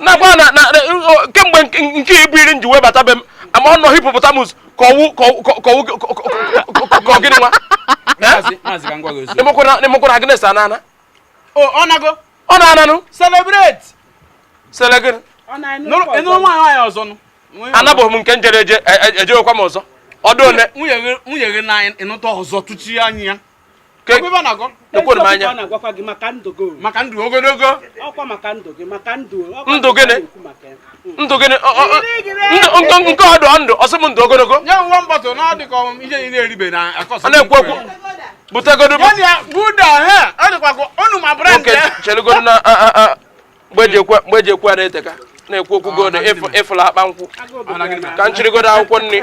nakwa na kemgbe nke ibu iri nji wee bata be m ama ọ nọ hipopotamus ka ọ wụ ka ọ gịnị nwa emekwara agnes anana ọ na-ananụ celebrate selegịnị ịnụrụ nwaanyị nwaanyị ọzọ nụ anabeghị m nke m jere eje ejewekwa m ọzọ ọ dị ole nwunye gị na ịnụta ọzọ tụchi anya ya ekwere m anya maka ndụ ogologo ndụ gịnị ndụ gịnị nke ọ dị ndụ ọ sị m ndụ ogologo a na-ekwu okwu butegodo chelugodo na mgbe e ji ekwu a na-eteka na-ekwu okwu gold ị fụla akpa nkwụ ka m chịrịgodo akwụkwọ nri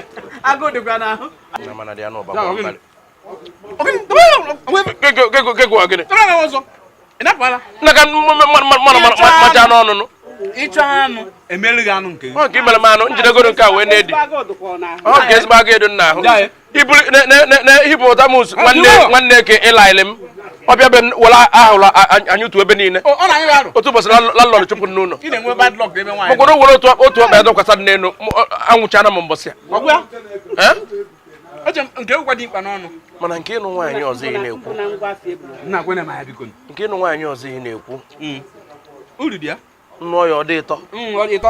ịchọ anụ emere gị anụ nke gị mere m anụ njidegoro nke a wee na-edi ọ ka ezigbo aga edo nna ahụ hipopotamus nwanne ke ịlaịlị m ọ bịa be were ahụrụ anyị otu ebe niile otu ụbọchị lalọrọ chụpụ n'ụlọ mkpụrụ were otu ọkpa ya dọkwasa n'elu anwụchana m mbọsị ya eche m nke ụkwa dị mkpa n'ọnụ mana nke ịnụ nwaanyị ọzọ ị na-ekwu nna kwena m ya biko nke ịnụ nwaanyị ọzọ ị na-ekwu hmm. uru dị ya nụọ ya ọ dị ụtọ hmm, ọ dị ụtọ